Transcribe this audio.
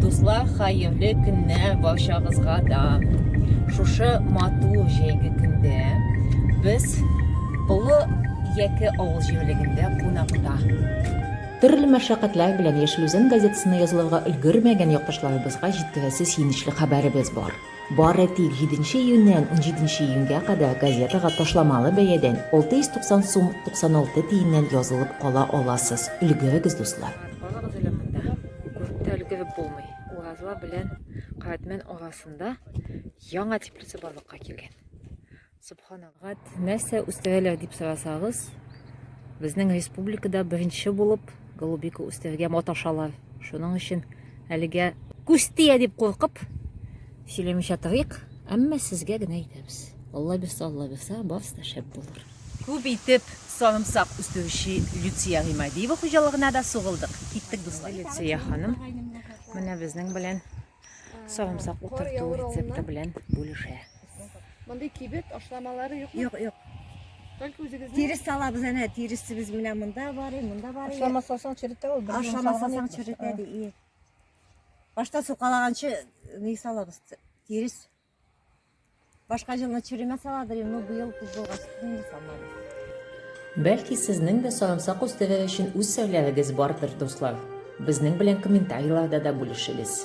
Дуслар, хәерле көннәр барчагызга да. Шушы матур җәйге көндә без Олы Яке авыл җирлегендә кунакта. Төрле мәшәкатьләр белән Яшел Үзән газетасына язылырга өлгермәгән якташларыбызга җиткерәсе сөенечле хәбәребез бар. Бары тик 7 нче июньнән 17 нче июньгә кадәр газетага ташламалы бәядән, 690 сум 96 тиеннән язылып кала аласыз. Өлгерегез, дуслар! Калыгыз әле монда, күреп тә өлгереп булмый. Уразла белән Каратмән арасында яңа теплица барлыкка килгән. Субханәгать нәрсә үстерәләр дип сорасагыз, безнең республикада беренче булып голубика үстерергә маташалар. Шуның өчен әлегә күз тия дип куркып сөйләмичә торыйк, әмма сезгә генә әйтәбез. Алла бирсә, Алла бирсә, барысы да шәп булыр. Күп итеп сарымсак үстерүче Люция Гыймадиева хуҗалыгына да сугылдык. Киттек, дуслар. Люция ханым, менә безнең белән Сарымсак утырту рецепты белән бүлешә. Мондый кибет ашламалары юк. Юк, юк. Только үзегезнең. Тирес салабыз әнә, тиресебез менә монда бар, монда бар. Ашламасаң черетә ул. Ашламасаң черетә ди. Башта сукалаганчы ни салабыз? Тирес. Башка җылны черемә саладыр, но быел күз булгач, инде салмадым. Бәлки сезнең дә сарымсак үстерү өчен үз серләрегез бардыр, дуслар? Безнең белән комментарийларда да бүлешегез.